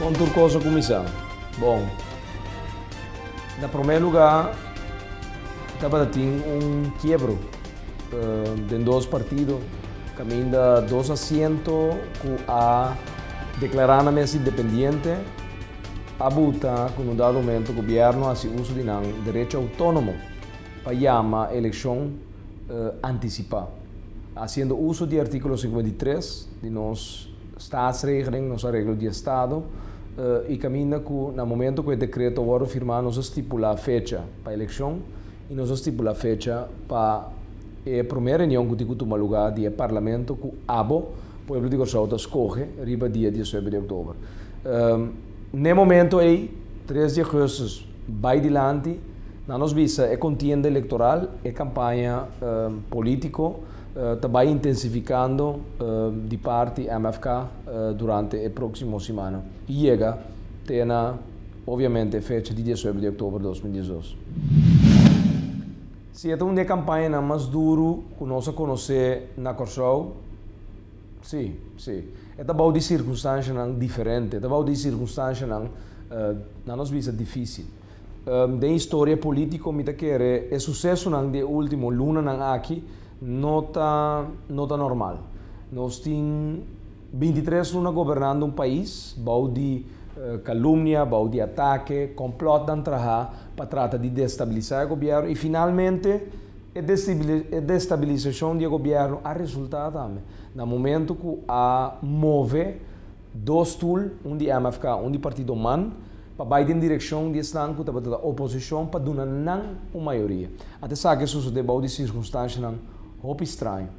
Kon tur kos a kuminsá? Bon, na promé lugá tabata tin un kiebro den dos partido kaminda dos asiento ku a deklará nan mes independiente a buta ku un dado momento gobièrnu a hasi uso di nan derecho outónomo. pa yama elekshon antisipá. Hasiendo uso di artíkulo singenta i tres di nos Staatsregeling, nos Areglo di Estado, i kaminda ku na momentu ku e dekreto a wòrdu firmá nos a stipulá fecha pa elekshon i nos a stipulá fecha pa e promé reunion ku tin ku tuma lugá di e Parlamento ku abo pueblo di Kòrsou ta skohe riba dia diasnuebe di oktober. Na e momentu ei, tres di augustus, Bai dilanti, na nos bisa e kontienda elektoral, e kampaña polítiko ta bai intensifikando di parti MFK durante e próksimo simana i yega te na obiamente e fecha di diesuebra di oktober dos mil diesdos. Si e ta un di e kampañanan mas duru ku nos a konosé na Kòrsou. Sí, sí. E ta bou di sirkunstanshanan diferente. E ta bou di sirkunstanshanan, nan nos bisa, difísil. Den historia polítiko mi ta kere e susesonan di e último lunanan aki no ta, no ta normal. Nos tin binti tres luna gobernando un pais bou di kalumnia, bou di atake, kòmplòtnan trahá pa trata di destabilisá e gobièrnu i finalmente, E destabilisacion di e gobierno a resulta tambe na momento cu a move dos stoel, un di MFK, un di partido man, pa bay den direccion di esnan cu tabata ta oposicion pa duna nan un mayoria. At esaki a sucede bou di circunstancianan hopi straño.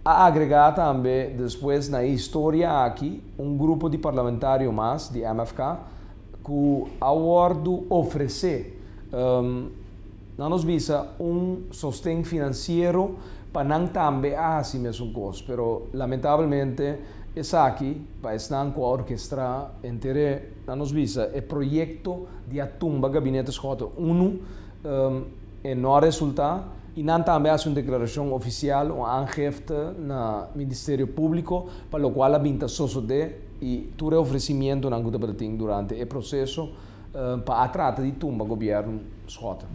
A agrega tambe despues na e historia aki un grupo di parlamentario mas di MFK cu a wordo ofrece. Nan nos bisa un sosten finansiero pa nan tambe a hasi mesun kos, pero lamentablemente esaki pa esnan ku a orkestrá enter'é, nan nos bisa e proyekto di a tumba Gabinete Schotten unu e no a resultá. I nan tambe a hasi un deklarashon ofisial, un aangefte na Ministerio Públiko pa lokual a bin ta sosodé i tur e ofresimientunan ku tabatin durante e proseso, Pa a trata di tumba gobierno Schotten.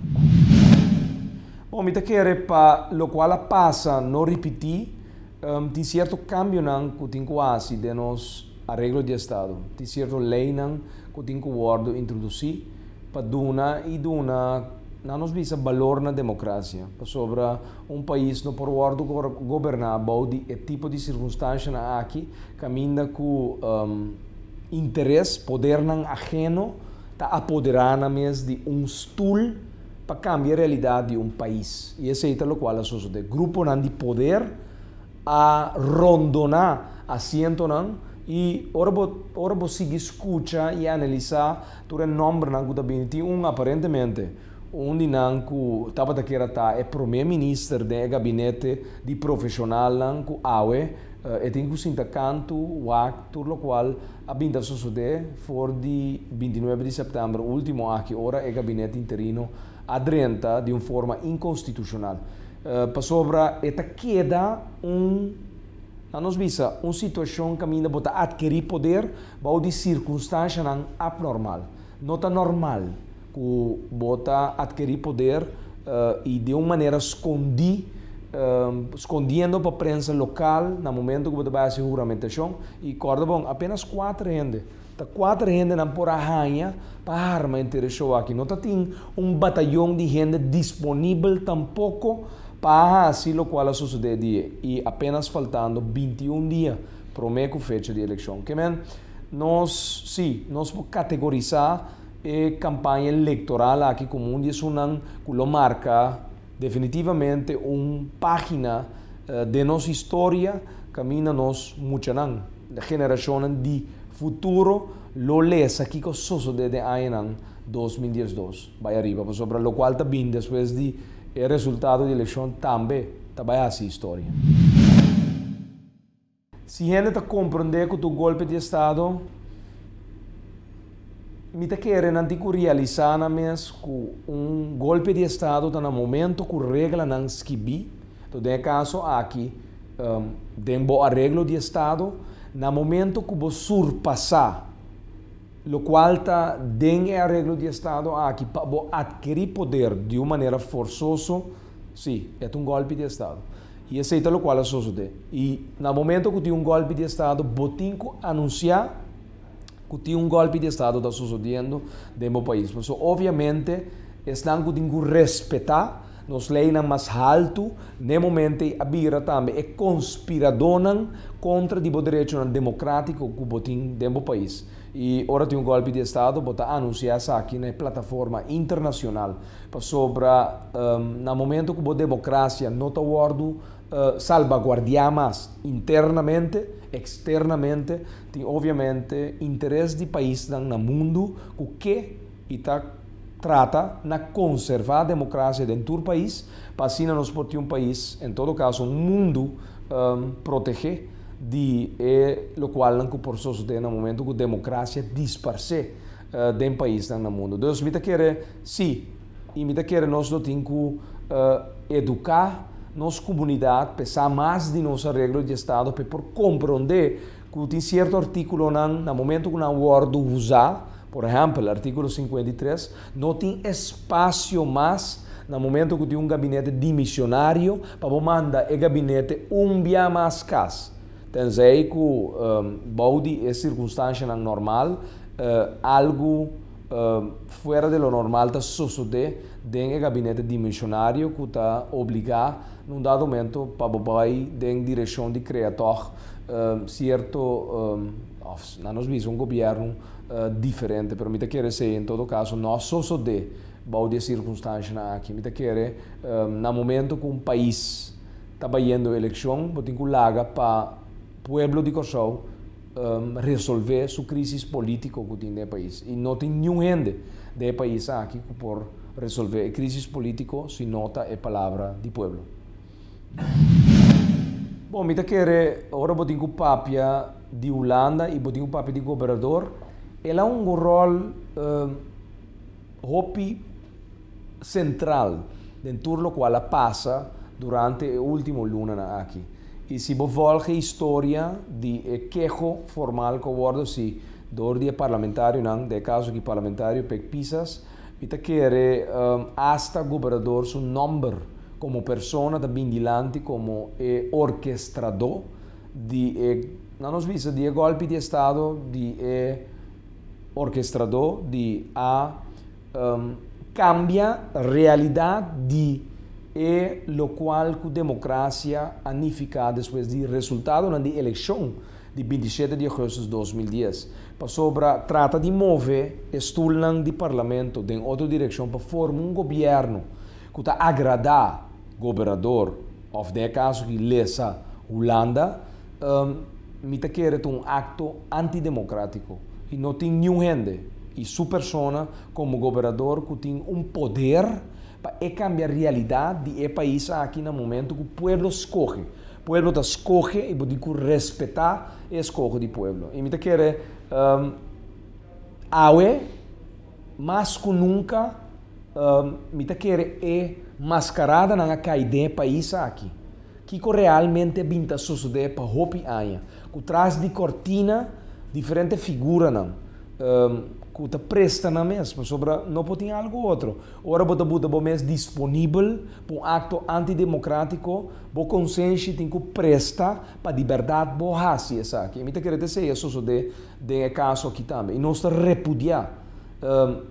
Bon, mi ta kere pa lokual a pasa no ripití. Tin sierto kambionan ku tin ku hasi den nos areglo di estado. Tin sierto leinan ku tin ku wòrdu introdusí pa duna i duna nan nos bisa balor na demokrasia. Pasobra. Un pais no por wòrdu goberná bou di e tipo di sirkunstanshanan aki kaminda ku interes, podernan aheno, ta apoderá nan mes di un stul pa kambia realidat di un pais. I esei ta lokual a sosodé. Gruponan di poder a rondoná asientonan i ora bo ora bo sigui skucha i analisá tur e nòmbernan ku ta bini tin un aparentemente, Un di nan ku tabata kier a ta e promé minister den e gabinete di profeshonalnan ku awe e tin ku sinta kantu wak tur lokual a bin ta sosodé for di binti nuebe di sèptèmber último aki ora e gabinete interino a drenta di un forma inkonstitushonal pasobra e ta keda un, nan nos bisa, un situashon kaminda bo ta atkerí poder bou di sirkunstanshanan apnormal. No ta normal ku bo ta adkirí poder i di un manera skondí, skondiendo pa prensa lokal na momentu ku bo ta bai hasi huramentashon. I kòrda bon, apénas kuater hende, ta kuater hende nan por a haña pa harma henter e shou aki. No ta tin un batayon di hende disponibel tampoko pa a hasi lokual a sosodé e dia. I apénas faltando binti un dia Prome cu fecha di eleccion. Ke men, nos, si, nos por categorisa e campaña electoral aki como un di esunnan cu lo marca definitivamente un pagina den nos historia caminda nos muchanan, generacionnan di futuro, lo lesa kico sosode den añanan dos mil diesdos bay ariba. Pasobra locual ta bin despues di e resultado di eleccion tambe ta bay haci historia. Si hende ta komprondé ku tur golpe di estado mi ta kere nan tin ku realisá nan mes ku un golpe di estado ta na momento ku reglanan skibí. Enton den e kaso aki den bo areglo di estado na momento ku bo surpasá lokual ta den e areglo di estado aki pa bo atkerí poder di un manera forsoso, Sí, e ta un gòlpi di estado. I esei ta lokual a sosodé. I na momento ku tin un gòlpi di estado, bo tin ku anunsiá ku tin un gòlpi di estado ta sosodiendo den bo pais. Pasobra obviamente esnan ku tin ku respetá nos leinan mas haltu n'e momento ei a bira tambe e konspiradónan kontra di bo derechonan demokratiko ku bo tin den bo pais. I ora tin un gòlpi di estado bo ta anunsiá esaki na e plataforma internashonal. Pasobra na momento ku bo demokrasia no ta wòrdu salbaguardiá mas internamente, eksternamente, tin obiamente interes di paisnan na mundu ku ke i ta trata na konservá demokrasia den tur pais pa asina nos por tin un pais, en todo kaso un mundu, protegé di e lokualnan ku por sosodé na momento ku demokrasia disparsé. den paisnan na mundu. Dus mi ta kere sí, i mi ta kere nos lo tin ku eduká nos kumunidat p'e sa mas di nos areglo di estado p'e por komprondé ku tin sierto artíkulonan na momentu ku nan wòrdu usá, por ehèmpel artíkulo sinkuenta i tres, no tin espasio mas na momentu ku tin un gabinete dimisionario pa bo manda e gabinete un bia mas kas. Tenzij ku bou di e sirkunstanshanan normal, algu fuera di lo normal ta sosodé den e gabinete dimensionario ku ta obligá na un dado momento pa bo bai den direkshon di krea tòg sierto òf nan nos bisa un gobièrnu diferente. Pero mi ta kere sey en todo kaso no a sosodé bou di e sirkunstanshanan aki. Mi ta kere na momento ku un pais. ta bayendo eleccion, bo tin cu laga pa pueblo di Corsou resolve su crisis politico cu tin den e pais. Y no tin niun hende den e pais aki cu por resolve e crisis politico si no ta e palabra di pueblo. Bon, mi ta kere ora bo tin cu papia di Hulanda y bo tin cu papia di gobernador, el a hungo rol. Hopi sentral den tur lokual a pasa durante e ultimo lunanan aki. I si bo volg e historia di e keho formal ku a wordo si dor di e parlamentarionan, den e kaso aki parlamentario Pek Pisas, mi ta kere asta gobernador su nòmber komo persona ta bin dilanti komo e orkestradó di e, nan nos bisa, di e gòlpi di estado di e Orkestradó di a kambia realidat di e lokual ku demokrasia a nifiká despues di resultadonan di elekshon di binti shete di Augustus dos mil dies, pasobra trata di move e stulnan di parlamento den otro direkshon pa forma un gobièrnu ku ta agradá. Gobernador, Of den e kaso di Lesa, Hulanda, mi ta kere ta un akto antidemokratiko i no tin niun hende i su persona komo gobernador ku tin un poder pa e kambia realidat di e pais aki na momentu ku pueblo skohe. Pueblo ta skohe i bo tin ku respetá e eskoho di pueblo. I mi ta kere awe. Mas cu nunca mi ta kere e mascaradanan a cay den e pais aki. Kico realmente a bin ta sosode pa hopi aña, cu tras di cortina diferente figuranan cu ta presta nan mes, pasobra no por tin algo otro. Ora bo ta buta bo mes disponibel pa un acto antidemocratico, bo consenshi tin cu presta pa di berdad bo haci esaki. Mi ta kere ta esey a sosode. den e kaso aki tambe, i nos ta repudiá,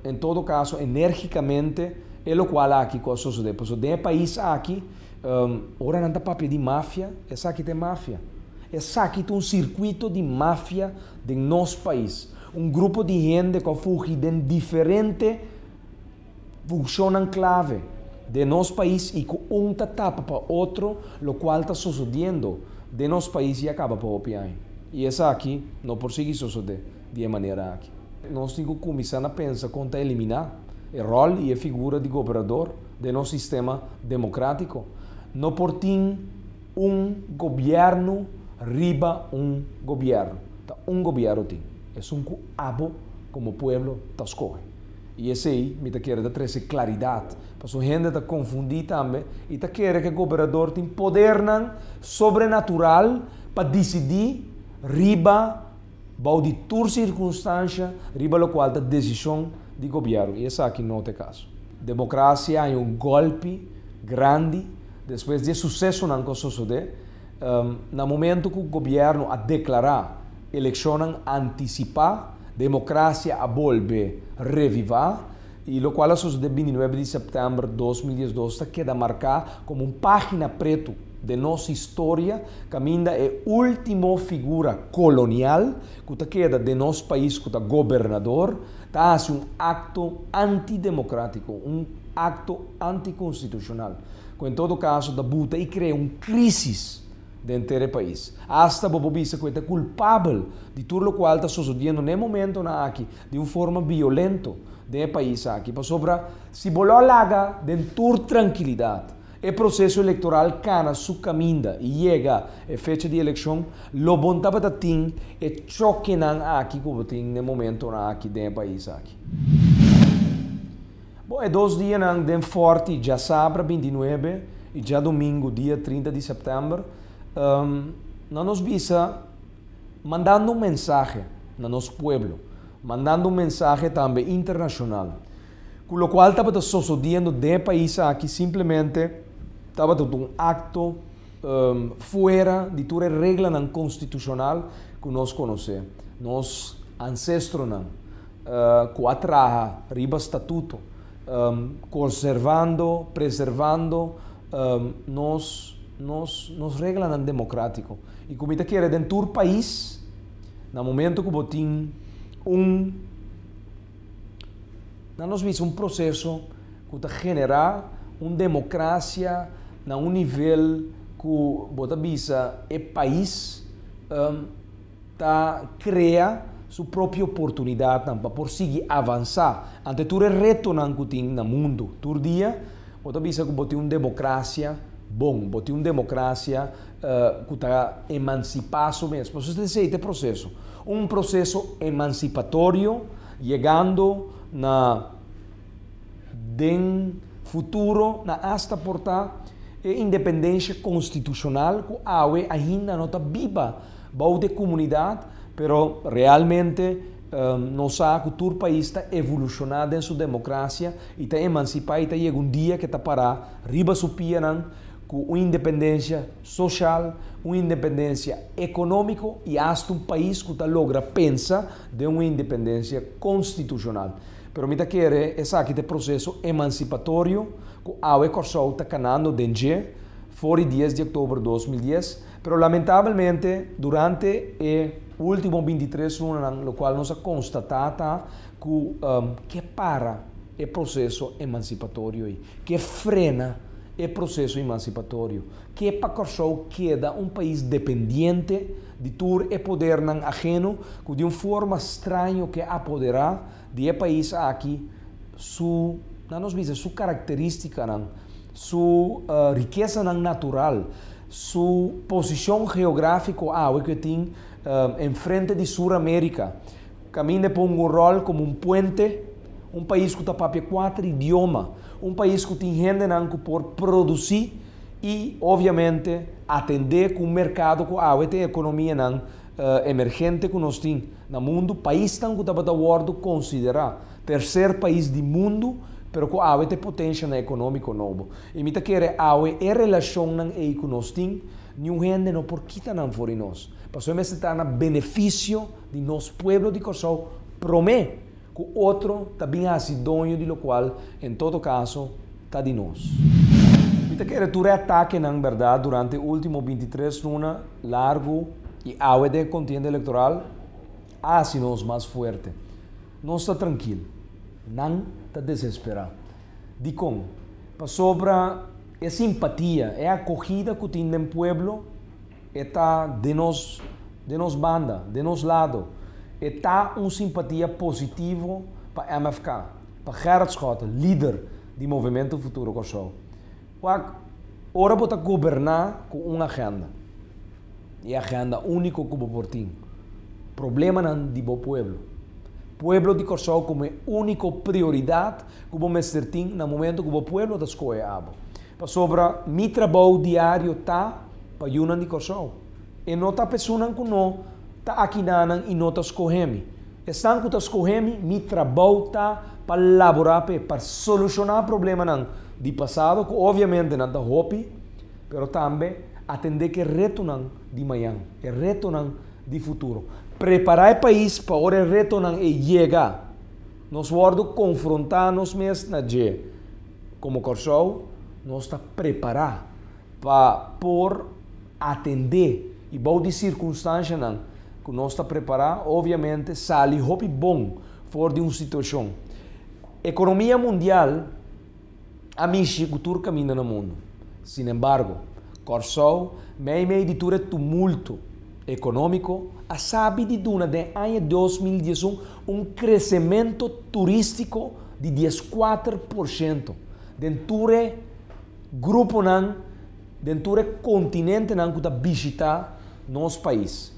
en todo kaso, enérgikamente e lokual aki ku a sosodé. Pasobra den e pais aki, ora nan ta papia di mafia, esaki ta e mafia. Esaki ta un sirkuito di mafia den nos pais. Un grupo di hende ku a fugi den diferente. Funcionnan clave den nos pais y cu un ta tapa pa otro lo cual ta sosodiendo den nos pais ya caba pa hopi aña y esaki no por sigui sosode di e manera aki. Nos tin cu cuminsa na pensa con ta elimina e rol y e figura di gobernador den nos sistema democratico. No por tin un gobierno riba un gobierno, ta un gobiero tin, esun cu abo como pueblo ta scoge. I esei mi ta kere ta trese klaridat, pasobra hende ta konfundí tambe i ta kere ku e goberador tin podernan sobrenatural pa disidí riba, bou di tur sirkunstansha, riba lokual ta desishon di gobièrnu. I esaki no ta e kaso. Demokrasia haña un gòlpi grandi despues di e susesonan ku a sosodé. Na momento cu gobierno a declara eleccionnan anticipa, democracia a bolbe reviva y locual a sucede bintinuebe di september dos mil diesdos ta keda marca como un pagina preto den nos historia caminda e ultimo figura colonial cu ta keda den nos pais cu ta gobernador ta haci un acto antidemocratico, un acto anticonstitucional. cu en todo caso ta buta y crea un crisis den enter e pais. Hasta bo por bisa cu e ta culpabel di tur locual ta sosodiendo n'e momentonan aki di un forma biolento den e pais aki, pasobra, si bo lo a laga den tur trankilidad, e proceso electoral cana su caminda y yega e fecha di eleccion, lo bon tabata tin e chokenan aki cu bo tin n'e momentonan aki den e pais aki. Bo e dos dianan den Fort i djasabra bintinuebe i djadumingu dia trinta di sèptèmber nan nos bisa mandando un mensahe na nos pueblo, mandando un mensahe tambe internashonal ku lokual tabata sosodiendo den e pais aki simplemente tabata ta un akto. fuera di tur e reglanan konstitushonal ku nos konosé. Nos ansestronan ku a traha riba statuto, konservando, preservando nos nos nos reglanan demokratiko. I ku mi ta kere den tur pais, na momentu ku bo tin un. Na nos misa un proseso ku ta generá un demokrasia na un nivel ku bo ta bisa e pais ta krea su propio oportunidatnan pa por sigui avansá ante tur e retonan ku tin na mundu. Tur dia bo ta bisa ku bo tin un demokrasia bon, bo tin un demokrasia. ku ta emansipá su mes. Por eso ta esei ta e proseso. Un proseso emansipatorio yegando na den futuro na asta por ta e independensha konstitushonal ku awe ainda no ta biba bou di e komunidat pero realmente nos sa ku tur pais ta evolushoná den su demokrasia i ta emansipá i ta yega un dia ku e ta pará riba su pianan Cu un independencia social, un independencia economico y hasta un pais cu ta logra pensa den un independencia constitucional. Pero mi ta kere esaki ta e proceso emancipatorio cu awe Corsou ta canando den dje, for di dies di october dos mil dies, pero lamentabelmente durante e ultimo binti tres lunanan locual nos a constata ta ku ke para e proseso emansipatorio ei, ke frena e proseso emansipatorio, ke pa Kòrsou keda un pais dependiente di tur e podernan ageno ku di un forma straño ke apoderá di e pais aki su, nan nos bisa, su karakterístikanan, su rikesanan natural, su posishon geográfiko awe ku e tin enfrente di Sur Amérika, Caminda e pongo un rol como un puente, un pais cu ta papia cuater idioma, un pais cu tin hendenan cu por produci y obviamente atende cu un mercado cu awe ta e economianan emergente cu nos tin na mundo, paisnan cu tabata wordo considera tercer pais di mundo pero cu awe ta e potencianan economico nobo. Y mi ta kere awe e relacionnan ey cu nos tin, niun hende no por kita nan for di nos. Pasobra mester ta na beneficio. di nos pueblo di Kòrsou promé ku otro ta bin hasi doño di lokual en todo kaso ta di nos. Mi ta kere tur e atakenan bèrdat durante e último binti tres luna largu i awe den e kontienda elektoral a hasi nos mas fuerte. Nos ta trankil. Nan ta desesperá. Dikon? Pasobra e simpatia, e akogida ku tin den pueblo, E ta den nos, den nos banda, den nos lado. E ta un simpatia positivo pa MFK, pa Gerrit Schotten, lider di Movimento Futuro Kòrsou. Wak, ora bo ta goberná ku un agenda, e agenda úniko ku bo por tin, problemanan di bo pueblo. Pueblo di Kòrsou komo e úniko prioridat ku bo mester tin na momentu ku bo pueblo ta skohe abo. Pasobra mi trabou diario ta. pa yunan di Kòrsou. E no ta pesunnan ku no ta akidanan i no ta skohé mi. Esnan ku ta skohé mi, mi trabou ta pa laborá p'e, pa solushoná problemanan di pasado ku oviamente nan ta hopi, pero tambe atendé ku e retonan di mañan, e retonan di futuro. Prepará e pais pa ora e retonan ei yega. Nos wòrdu konfrontá nos mes na dje. Komo Kòrsou, nos ta prepará. pa por atendé i bou di sirkunstanshanan ku nos ta prepará, obiamente sali hopi bon for di un situashon. Ekonomia mundial a mishi ku tur kaminda na mundu. Sinembargo, Kòrsou, meimei di tur e tumulto ekonómiko, a sabi di duna den aña dos mil dies un un kresementu turístiko di dieskuater por shento den tur e. Gruponan den tur e kontinentenan ku ta bishitá nos pais,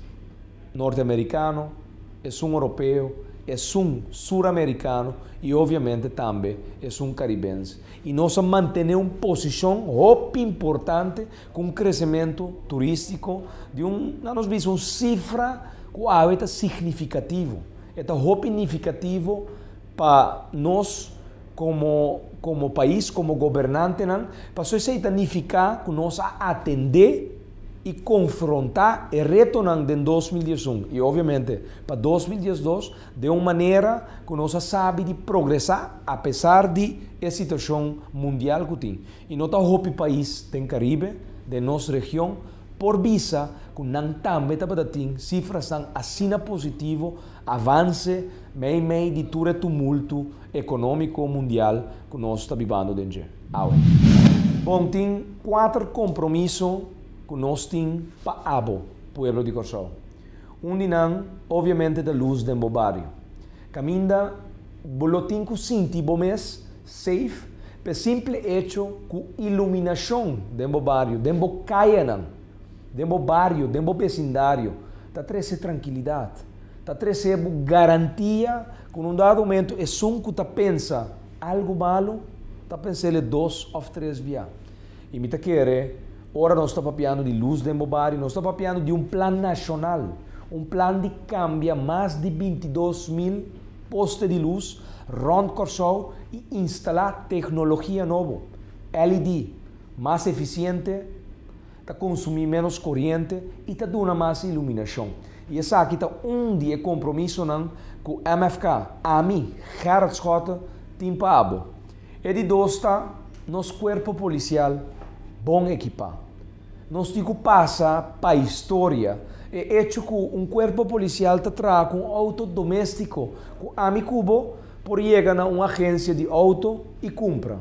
Norteamerikano, esun Oropeo, esun Suramerikano i oviamente tambe esun Karibens. I nos a mantené un posishon hopi importante ku un kresementu turístiko di un, nan nos bisa, un sifra ku awe ta signifikativo. E ta hopi nifikativo pa nos. Komo komo pais, komo gobernantenan, paso esei ta nifiká ku nos a atendé i konfrontá e retonan den dos mil dies un i obviamente pa dos mil dies dos den un manera ku nos a sabi di progresá apesar di e situashon mundial ku tin i no ta hopi pais den Karibe, den nos region, por bisa ku nan tambe tabata tin sifrasnan asina positivo Avance mei mei di tur e tumultu economico mundial cu nos ta bibando den dje awe. Bon tin cuater compromiso cu nos tin pa abo, pueblo di Corsow. Un di nan obviamente ta luz den bo bario. Caminda bo lo tin cu sinti bo mes safe p'e simple hecho cu iluminacion den bo bario, den bo cayenan, den bo bario, den bo besindario, ta trese trankilidat, ta trese bo garantia ku na un dado momentu esun ku ta pensa algu malu ta pensa el e dos òf tres bia. I mi ta kere, ora nos ta papiando di lus den bo bario, nos ta papiando di un plan nashonal, un plan di kambia mas di binti dos mil poste di lus rònt Kòrsou i instalá teknologia nobo, LED, mas efisiente, ta konsumí ménos koriente i ta duna mas iluminashon. I esaki ta un di e kompromisonan ku MFK, ami, Gerard Schotte, tin pa abo. E di dos ta, nos kuerpo polisial bon ekipá. Nos tin ku pasa pa historia e echo ku un kuerpo polisial ta traha ku un outo doméstiko ku ami ku bo por yega na un agensia di outo i kumpra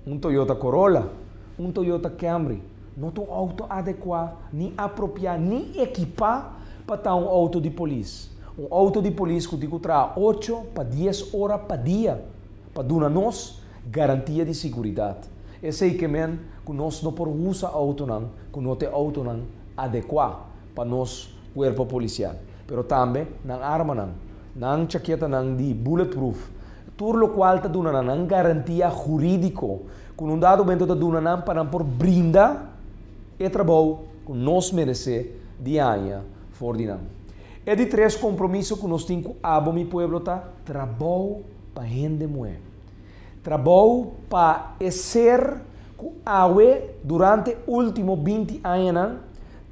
un Toyota Corolla, Un Toyota Camry no ta un outo adekuá ni apropiá ni ekipá pa ta un outo di polis. Un outo di polis ku tin ku traha ocho pa dies ora pa dia pa duna nos garantia di siguridat. Esei ke men ku nos no por usa outonan ku no ta e outonan adekuá pa nos kuerpo polisial. Pero tambe nan armanan. Nan chaketanan di bulletproof, tur lokual ta duna na nan garantia hurídiko ku un dado momento ta duna nan pa nan por brinda e trabou ku nos meresé di haña for di nan. E di tres kompromiso ku nos tin ku abo mi pueblo ta, Trabou pa hende muhé. Trabou pa e ser ku awe durante último binti añanan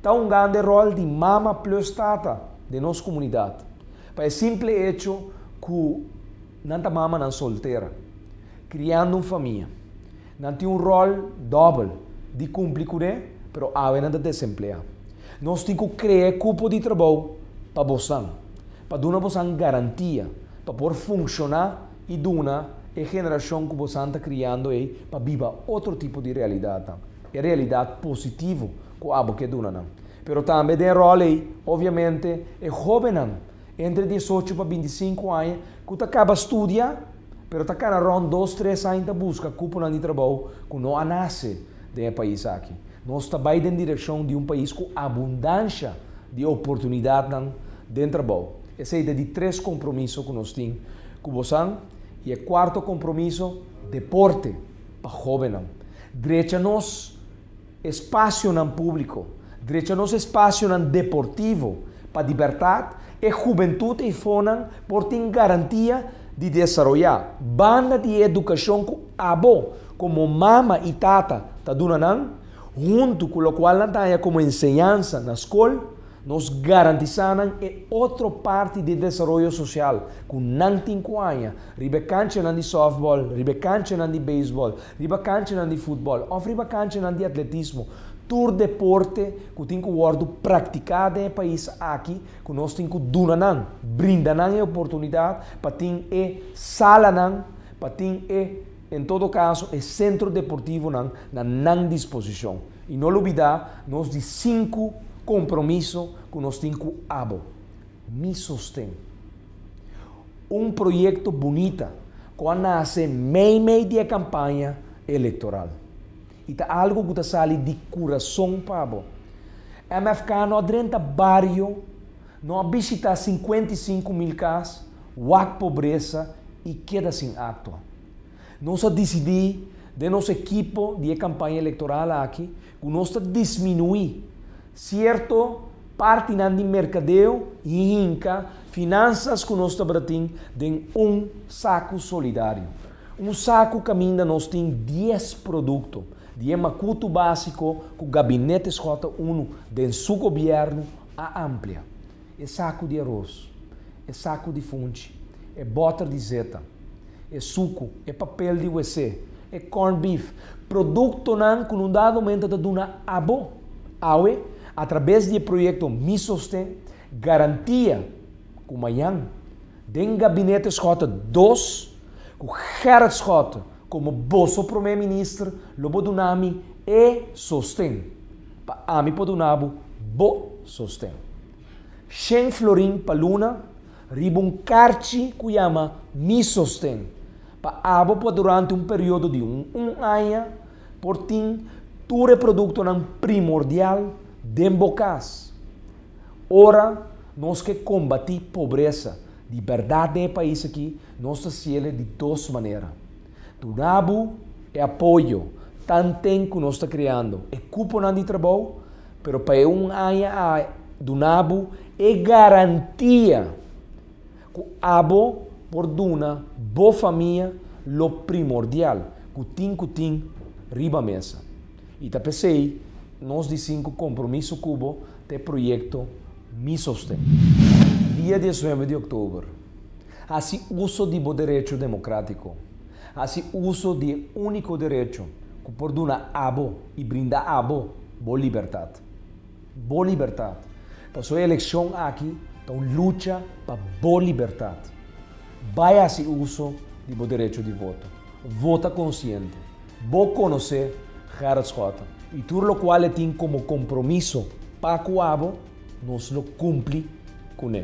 ta un gande ròl di mama plus tata den nos komunidat, pa e simple echo ku nan ta mamanan soltera, kriando un famia. Nan tin un ròl dòbel di kumpli kuné, pero awe nan ta desempleá. Nos tin ku kre'é kupo di trabou pa bosan, pa duna bosan garantia pa por funshoná, i duna e generashon ku bosan ta kriando ei pa biba otro tipo di realidatnan, e realidat positivo ku abo ke duna nan. Pero tambe den e ròl ei, obviamente, e hóbennan entre diesocho pa binti sinku aña ku ta kaba studia pero ta kana rònt dos, tres aña ta buska kuponan di trabou ku no a nase den e pais aki. Nos ta bai den direkshon di un pais ku abundansha di oportunidatnan den trabou. Esei ta di tres kompromiso ku nos tin Ku bosan i e kuarto kompromiso, deporte pa hóbennan. Drecha nos espasionan públiko, drecha nos espasionan deportivo pa dibertat e hubentut eifonan por tin garantia di desaroyá, banda di e edukashon ku abo komo mama i tata ta duna nan, huntu ku lokual nan ta haña komo enseñansa na skol. Nos garantisá nan e otro parti di e desaroyo sosial ku nan tin ku haña, riba e kanchanan di sòftbòl, riba e kanchanan di beisbòl, riba kanchanan di futbòl òf riba kanchanan di atletismo, tur deporte ku tin ku wòrdu praktiká den e pais aki ku nos tin ku duna nan, brinda nan e oportunidat pa tin e salanan, pa tin e. En todo caso e centro deportivonan na nan disposicion y no lubida nos di cinco compromiso cu nos tin cu abo. Mi sosten. Un proyecto bunita cu a nace mei mei di e campaña electoral. Y ta algo cu ta sali di curazon pa abo. MFK no a drenta bario. No a bishitá sinkuenta i sinku mil kas, wak pobresa i keda sin akto. Nos a disidí den nos ekipo di e kampaña elektoral aki ku nos ta disminuí sierto partinan di merkadeo i hinka finansas ku nos tabata tin den un saku solidario. Un saku kaminda nos tin dies produkto di e makutu básiko ku Gabinete SJ unu den su gobièrnu A amplia e saku di aros, e saku di funchi, e bòter di zeta, e suku, e papel di WC, e corned beef, produktonan ku no dadomente ta duna abo. Awe, atrabes di e proyekto Mi Sosten, garantia ku mañan, den Gabinete Schotten dos, ku Gerrit Schotten komo boso Promé Minister, lo bo duna mi e sosten. pa ami por duna bo bo sosten. Shen florin pa luna riba un karchi ku yama Mi sosten pa abo por durante un periodo di un un aña por tin tur e produktonan primordial den bo kas. Ora nos ke kombati pobresa di bèrdat den e pais aki nos ta siele di dos manera. Dunabu e apoyo tanten ku nos ta kreando e kuponan di trabou, pero pa e un aña a dunabu e garantia ku abo por duna bo famia lo primordial ku tin ku tin riba mesa. I ta p'esei nos di sinku kompromiso ku bo ta e proyekto Mi Sosten. Dia diesnuebe di oktober. Hasi uso di bo derecho democratico. Hasi uso di e unico derecho cu por duna abo y brinda abo bo libertad. Bo libertad. Paso e eleccion aki ta un lucha pa bo libertad. Bay hasi uso di bo derecho di voto. Vota consciente. Bo conoce Gerrit Schotten y tur locual e tin como compromiso pa cu abo, nos lo cumpli cu ne.